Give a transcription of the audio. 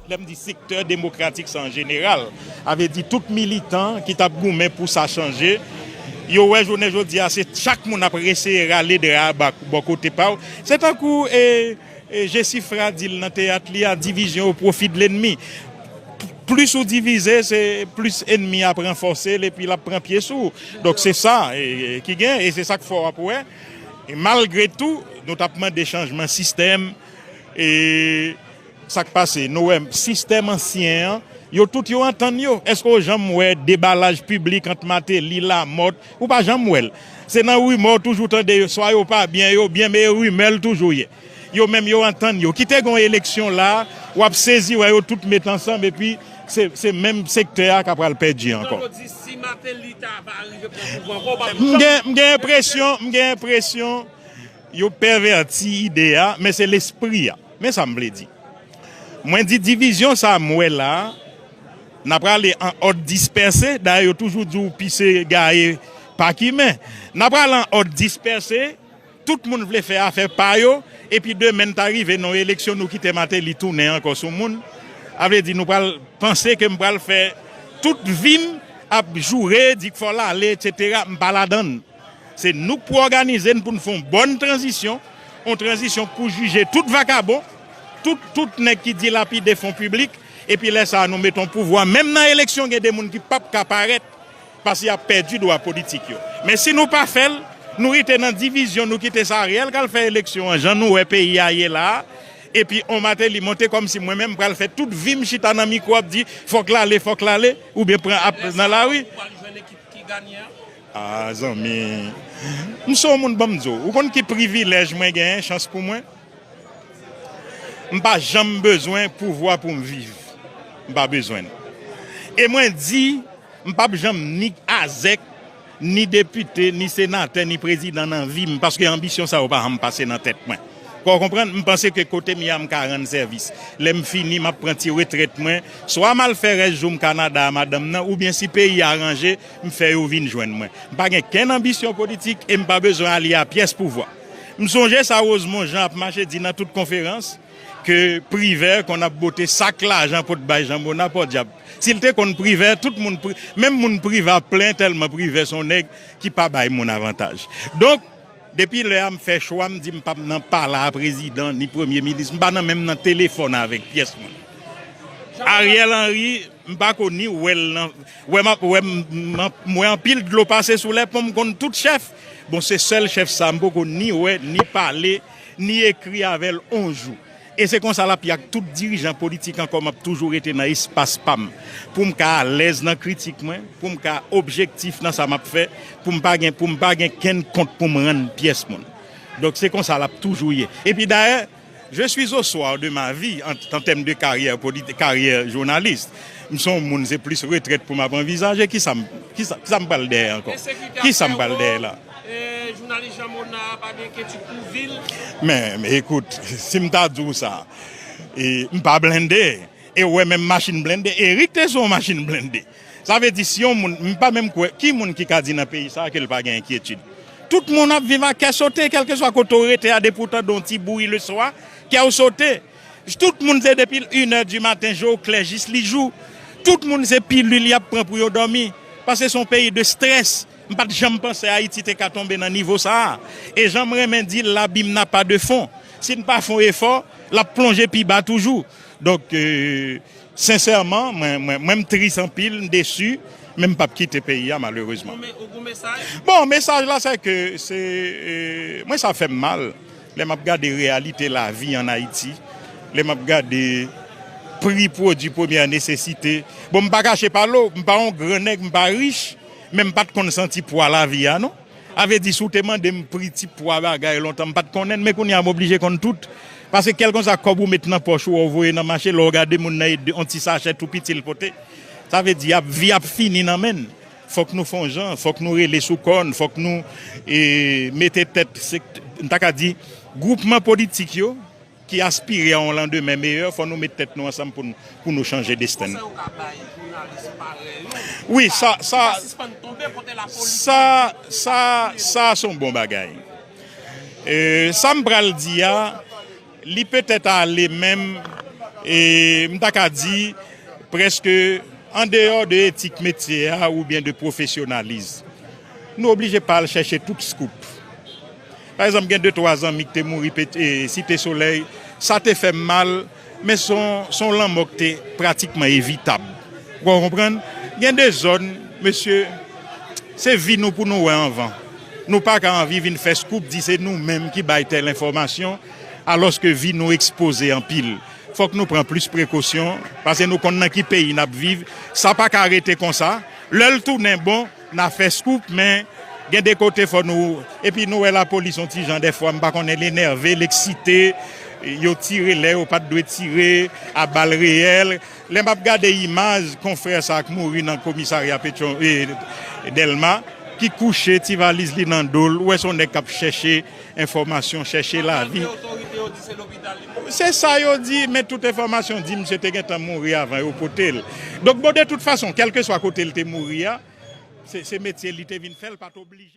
Lè m di sektè demokratik sa an jeneral, sa vle di tout militan ki t ap goumen pou sa chanje, yo wè jounen jodi a se chak moun ap eseye rale dra a bò kote pa yo. Se tankou e. Jesifra di l nan teyat li a divizyon o pwofi de lennmi. Plis ou divize se plis ennmi ap ranfòse l epi l ap pran pye sou ou. Donk se sa ki gen e se sa k fè w ap wè malgre tou nou t ap mande chanjman sistèm e sa k pase nou wè sistèm ansyen an yo tout yo antann yo. Èske w janm wè debalaj piblik ant Mateli, Lamòt? Ou pa janm wèl. Se nan rumeur w toujou tande yo swa yo pa byen yo byen me rumeur l toujou ye. Yo menm yo antann yo. Kite gon eleksyon la wap sezi wè yo tout met ansanm epi se menm sektè a ka pral pèdi ankò. Antòn ou di si Martelly ta pa rive pran pouvwa ankò ou pa. M gen enpresyon m gen enpresyon. Yo pèvèti ide a, men se lespri a. Men sa m vle di. Mwen di divizyon sa a m wè la a, n ap ale an òd dispèse, dayè yo toujou di w pise gaye pa kimen. N ap ale an òd dispèse, tout moun vle fè afè pa yo, epi demen n ta rive nan yon eleksyon nou kite Mateli tounen ankò sou moun, a vle di nou pral panse ke m pral fè tout vi m ap joure, di k fò l ale, eksetera, m pa ladann. Se nou k pou òganize n pou n fè yon bòn tranzisyon, yon tranzisyon k pou jije tout vakabon, tout tout nèg ki dilapide fon piblik, epi lè sa a nou mete yon pouvwa, menm nan eleksyon gen de moun ki p ap ka parèt paske y ap pèdi dwa politik yo. Men si nou pa fè l, nou rete nan divizyon, nou kite sa Ariel k al fè eleksyon an jan nou wè peyi a ye la a, epi yon Martelly monte kòmsi mwen menm m pral fè tout vi m chita nan mikwo ap di fòk l ale, fòk l ale, oubyen pran ap nan lari. Aa zanmi m se yon moun banm di w ou konn ki privilèj mwen genyen chans pou mwen m pa janm bezwen pouvwa pou m viv m pa bezwen l e mwen di m pap janm ni azèk ni depite ni senatè ni prezidan nan vi m paske anbisyon sa yo pa janm pase nan tèt mwen kò w konprann m panse ke kote m ye a m ka rann sèvis lè m fini m ap pran ti retrèt mwen swa m al fè rès jou m Kanada a madanm nan oubyen si peyi a ranje M fè yo vin jwenn mwen. M pa gen kenn anbisyon politik e m pa bezwen alye a pyès pouvwa. M sonje sa Rosemond Jean ap mache di nan tout konferans, ke Privert konn ap bote sak lajan pot bay Jean Monard, pòdyab! Si l te konn Privert, tout moun, menm moun Privert ap plen tèlman Privert s on nèg ki pa bay moun avantaj. Donk, depi lè a m fè chwa m di m p ap nan pala a prezidan ni premye minis, m pa nan menm nan telefòn avèk pyès moun. Ariel Henry. M pako ni wèl nan wè map wè m wè anpil dlo pase sou lè ponm konn tout chèf bon se sèl chèf sa m poko ni wè ni pale ni ekri avèl on jou e se konsa lap ye ak tout dirijan politik ankò map toujou rete nan espas pam poum ka alèz nan kritik mwen poum ka objektif nan sa map fè poum pa gen poum pa gen kenn kont poum rann pyès moun donk se konsa lap toujou ye epi dayè Je suis au soir de ma vie en tèm de karyè politik, karyè jounalis. M son moun se plis retrèt pou m ap anvizaje. Kisa m kisa m pral dèyè ankò? Kisa m pral dèyè la? Ensekite ap fè ou, jounalis Jean Monard pa gen enkyetud pou vi l? Men, ekout, si m ta di w sa, m pa blende. E ou wè menm machin blende, Eric te sou yon machin blende. Sa vle di si yon moun, m pa menm kwè, ki moun ki ka di nan peyi sa ke l pa gen enkyetid? Tout moun ap viv ak kè sote kèlkeswa kote w rete a depi w tande yon ti bri le swa, kè w sote. Tout moun se depi l inè di maten je w klè jis li jou. Tout moun se pilil y ap pran pou yo dòmi. Paske se yon peyi de strès. M pa t janm panse Ayiti te ka tonbe nan nivo sa a. E jan m renmen di l l'abîme n'a pas de fond. Si n pa fon efò, l ap plonje pi ba toujou. Donk. Sincèrement mwen m tris anpil m deçu men m pap kite peyi a malheureusement. Ou gon mesaj? Bon mesaj la se ke se mwen sa fèm mal lè map gade reyalite lavi an Ayiti lè map gade pri pwodwi premyè nesesite bon m pa kache pale w m pa yon gran nèg m pa rich men m pat konn santi pwa lavi a non. Avedi si w te mande m pri ti pwa bagay lontan m pat konnen l men kounye a m oblije konn tout paske kèlkon sa kòb ou met nan pòch ou a w voye nan mache lè w gade moun nan e on ti sachè tou piti l pote sa vle di ap vi ap fini nan men n fòk nou fon jan fòk nou rele sou kò n fòk nou mete tèt m ta ka di gwoupman politik yo. Ki aspire a yon landemen meyè, fò nou met tèt nou ansanm pou n pou nou chanje desten n. Konsèy ou ka bay jounalis parèy ou pou yo ka pou yo ka sispann tonbe kote lapolis Sa sa sa se yon bon bagay. Sa m pral di a li petèt ale menm m ta ka di prèske andeyò de etik metye a oubyen de pwofesyonalism. Nou oblije pa al chèche tout scoop. Pa egzanp, gen de twa zanmi k te mouri Site Solèy. Sa te fè m mal, men se yon lanmò k te pratikman evitab. Ou ka konprann? Gen de zòn, mesye, se vi nou pou nou wè anvan. Nou pa ka anvi vin fè scoop di se nou menm ki bay tèl enfòmasyon, alòske vi nou ekspoze anpil. Fòk nou pran plis prekosyon, pase nou konn nan ki peyi n ap viv. Sa pa ka rete konsa. Lè l tounen bon. Na fè scoop men gen de kote fò nou epi nou wè lapolis yon ti jan dèfwa m pa konnen l enève l eksite yo tire lè yo pat dwe tire a bal reyèl lè map gade imaj konfrè sa k mouri nan komisarya petyon Dèlma ki kouche ti valiz li nan do l ou wè se yon nèg kap chèche Enfòmasyon chèche lavi. Antan ke otorite yo di se lopital li mouri. Se sa yo di, men tout enfòmasyon di misye te gentan mouri avan yo pote l. Donk bon de tout fason, kèlkeswa kote l te mouri a, se metye li te vin fè, l pa t oblije.